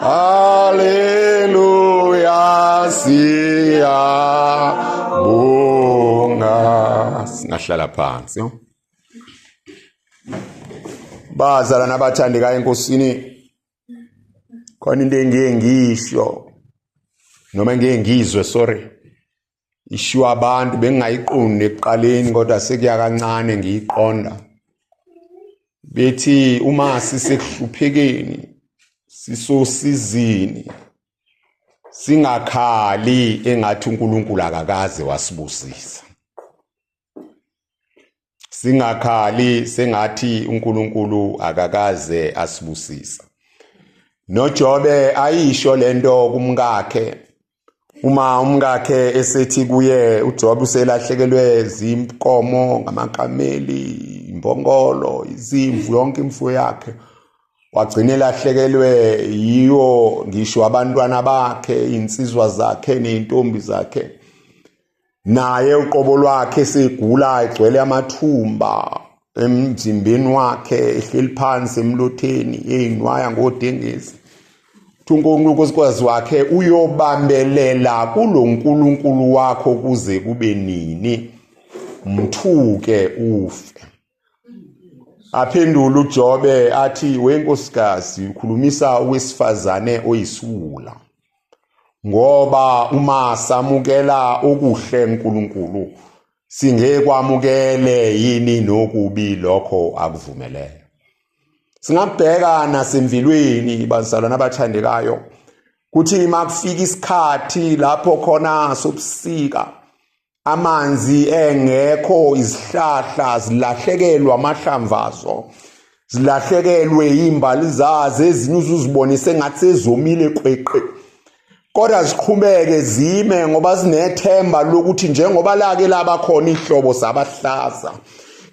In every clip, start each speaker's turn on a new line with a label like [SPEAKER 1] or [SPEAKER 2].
[SPEAKER 1] Haleluya siyabonga. Singahlala phansi. Bazalana abathandekayo enkosini khona into engiye ngisho noma ngiye ngizwe sorry ishiwa abantu bengingayiqondi ekuqaleni kodwa sekuya kancane ngiyiqonda bethi uma sisekuhluphekeni sisosizini singakhali engathi uNkulunkulu akakaze wasibusisa singakhali sengathi uNkulunkulu akakaze asibusisa noJobe ayisho lento kumkakhe uma umkakhe esethi kuye uJobe uselahlekelwe zimkomo ngamakameli imbongolo izimvu yonke imfuyo yakhe wagcina elahlekelwe yiwo ngisho abantwana bakhe insizwa zakhe nezintombi zakhe naye uqobo lwakhe segula egcwele amathumba emzimbeni wakhe ehleli phansi emlotheni eyinwaya ngodengezi Thunkonkulu nkosikazi wakhe uyobambelela kulo nkulunkulu wakho kuze kube nini mthuke ufe Aphendula uJobe athi wenkosikazi ukhulumisa owesifazane oyisiwula ngoba uma samukela okuhle uNkulunkulu singekwamukele yini nokubi lokho akuvumelele singabheka nasemvilweni bazalwana abathandekayo kuthi makufika isikhathi lapho khona sobusika amanzi engekho izihlahla zilahlekelwa amahlamvazo zilahlekelwe izimbali zazo ezinye uzuzibonise ngathi sezomile qweqe kodwa ziqhubeke zime ngoba zinethemba lokuthi njengoba lake laba khona ihlobo sabahlaza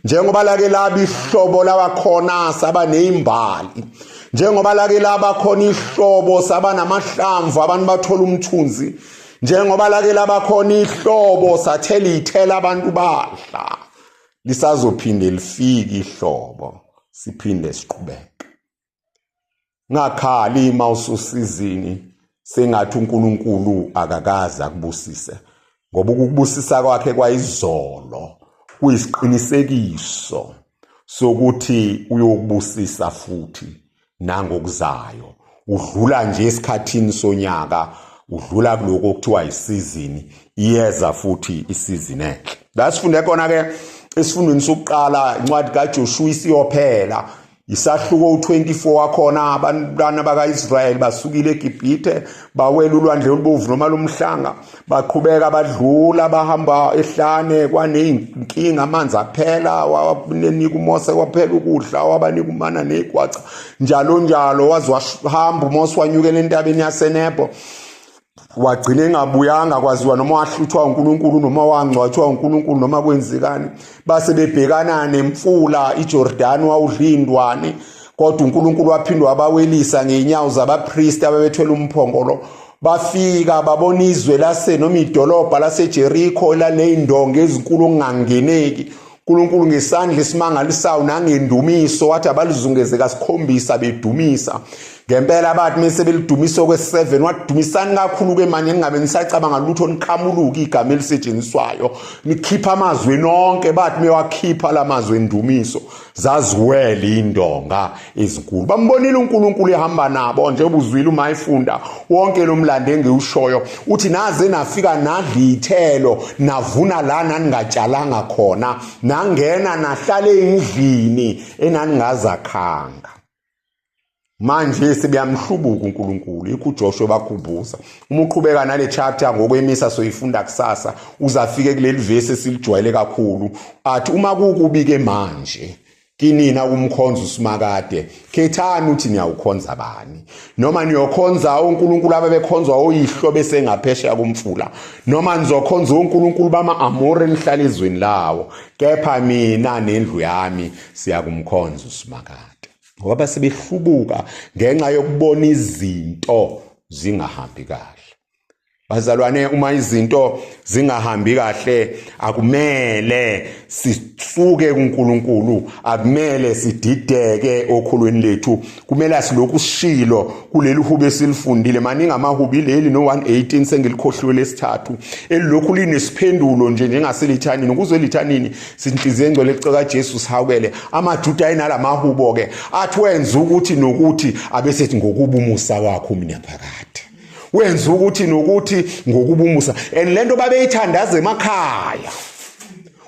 [SPEAKER 1] njengoba lake laba ihlobo laba khona saba nezimbali njengoba lake laba khona ihlobo saba namahlamvu abantu bathola umthunzi njengoba lake labakhona ihlobo sathe liyithela abantu badla lisazophinde lifike ihlobo siphinde siqhubeke ngakhali uma ususizini sengathi uNkulunkulu akakaze akubusise ngoba ukubusisa kwakhe kwayizolo kuyisiqinisekiso sokuthi uyokubusisa futhi nangokuzayo udlula nje esikhathini sonyaka udlula kuloko okuthiwa isizini iyeza futhi isizini enhle la sifunde khona ke esifundweni sokuqala incwadi kaJoshua isiyophela isahluko u24 wakhona abantwana bakaIsrael basukile eGibhithe bawela ulwandle olubovu noma lomhlanga baqhubeka badlula bahamba ehlane kwaneyinkinga amanzi aphela wabanika umose kwaphela ukudla wabanika umana negwaca njalo njalo waze wahamba umose wanyukela entabeni yasenebo wagcina engabuyanga kwaziwa noma wahluthwa uNkulunkulu noma wangcwatshwa uNkulunkulu noma kwenzekani base bebhekana nemfula iJordan wawudlindwane kodwa uNkulunkulu waphinde wabawelisa ngeenyawo zabapristi ababethwele umphongolo bafika babona izwe lase noma idolobha laseJerikho elaleyindonga ezinkulu okungangeneki uNkulunkulu ngesandla esimangalisayo nangendumiso wathi abalizungeze kasikhombisa bedumisa ngempela abathi mese belidumisa okwe-7 wadumisani kakhulu-ke manje ningabe nisacabanga lutho niqhamuluke igama elisetshenziswayo nikhipha amazwi nonke bathi mewakhipha la mazwi endumiso zaziwele indonga ezinkulu bambonile uNkulunkulu ehamba nabo nje ubuzwile uma efunda wonke lomlando engiwushoyo uthi naze nafika nadlithelo navuna la naningatshalanga khona nangena nahlale endlini enaningazakhanga manje sebeyamhlubuka uNkulunkulu yikho uJoshua bakhumbuza uma uqhubeka nale chapter ngokwemisa soyifunda kusasa uzafike kuleli verse esilijwayele kakhulu athi uma kukubike manje kinina umkhonza usimakade khethani uthi niyawukhonza bani noma niyokhonza uNkulunkulu abebekhonzwa oyihlo bese ngaphesheya komfula noma nizokhonza uNkulunkulu bama-amore nihlala ezweni lawo kepha mina nendlu yami siyakumkhonza usimakade ngoba base behlubuka ngenxa yokubona izinto zingahambi kahle bazalwane uma izinto zingahambi kahle akumele sisuke kuNkulunkulu akumele sidideke okhulweni lethu kumele asiloku sishilo kuleli hubo esilifundile maningi amahubi leli no 118 sengilikhohliwe lesithathu elilokhu linesiphendulo nje njengaselithanini ukuze lithanini sinhliziyo engcwele kuceka Jesu sihawukele amajuda ayinalamahubo ke athi wenza ukuthi nokuthi abesethi ngokuba umusa wakho mina phakade wenza ukuthi nokuthi ngokuba umusa and lento babeyithandaza emakhaya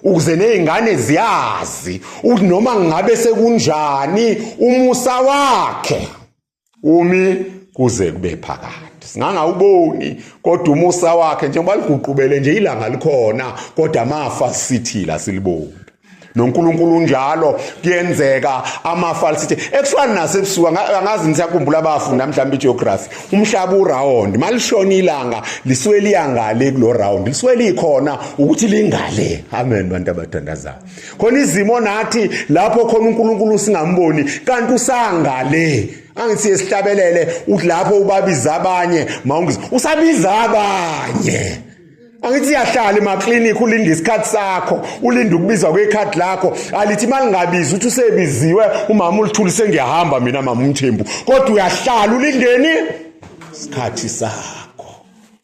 [SPEAKER 1] ukuze nezingane ziyazi ukuthi noma ngabe sekunjani umusa wakhe umi kuze kube phakade singangawuboni kodwa umusa wakhe njengoba liguqubele nje ilanga likhona kodwa amafa sithila siliboni noNkulunkulu unjalo kuyenzeka amafa lisithi ekufana nasebusuku angazi ngisakhumbula abafu namhlanje igeography umhlaba uround malishona ilanga lisuke liyangale kulo round lisuke likhona ukuthi lingale amen bantu abathandazayo khona izimo nathi lapho khona uNkulunkulu singamboni kanti usangale angithi esihlabelele uthi lapho ubabiza abanye mawungizi usabiza abanye angithi yahlala emaclinic ulinde isikhathi sakho ulinde ukubizwa kwekhadi lakho alithi imali ngabizi uthi usebiziwe umama ulithuli sengiyahamba mina mama umthembu kodwa uyahlala ulindeni isikhathi sakho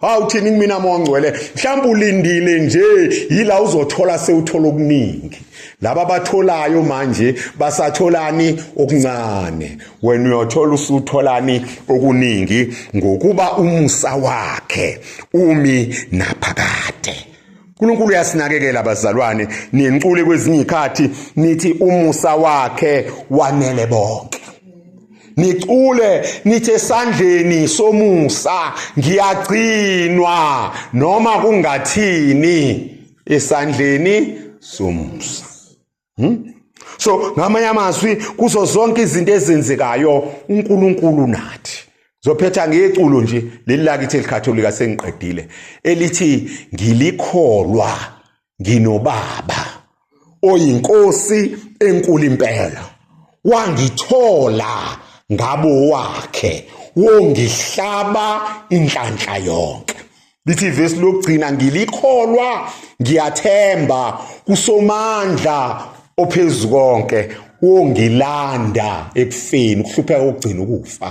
[SPEAKER 1] hawu thini kumina moya ngcwele mhlawumbe ulindile nje yila uzothola sewuthola okuningi laba batholayo manje basatholani okuncane wena uyothola usutholani okuningi ngokuba umusa wakhe umi naphakade uNkulunkulu uyasinakekela abazalwane niyencule kwezinye izikhathi nithi umusa wakhe wanele bonke nicule nithe sandleni somusa ngiyagcinwa noma kungathini esandleni somusa hmm? so ngamanye amazwi kuzo zonke izinto ezenzekayo uNkulunkulu nathi zophetha ngeculo nje leli lakithi elikhatholika sengiqedile elithi ngilikholwa nginobaba oyinkosi enkulu impela wangithola ngabo wakhe wongihlaba inhlanhla yonke lithi ivesi lokugcina ngilikholwa ngiyathemba kusomandla ophezu konke wongilanda ekufeni ukuhlupheka kokugcina ukufa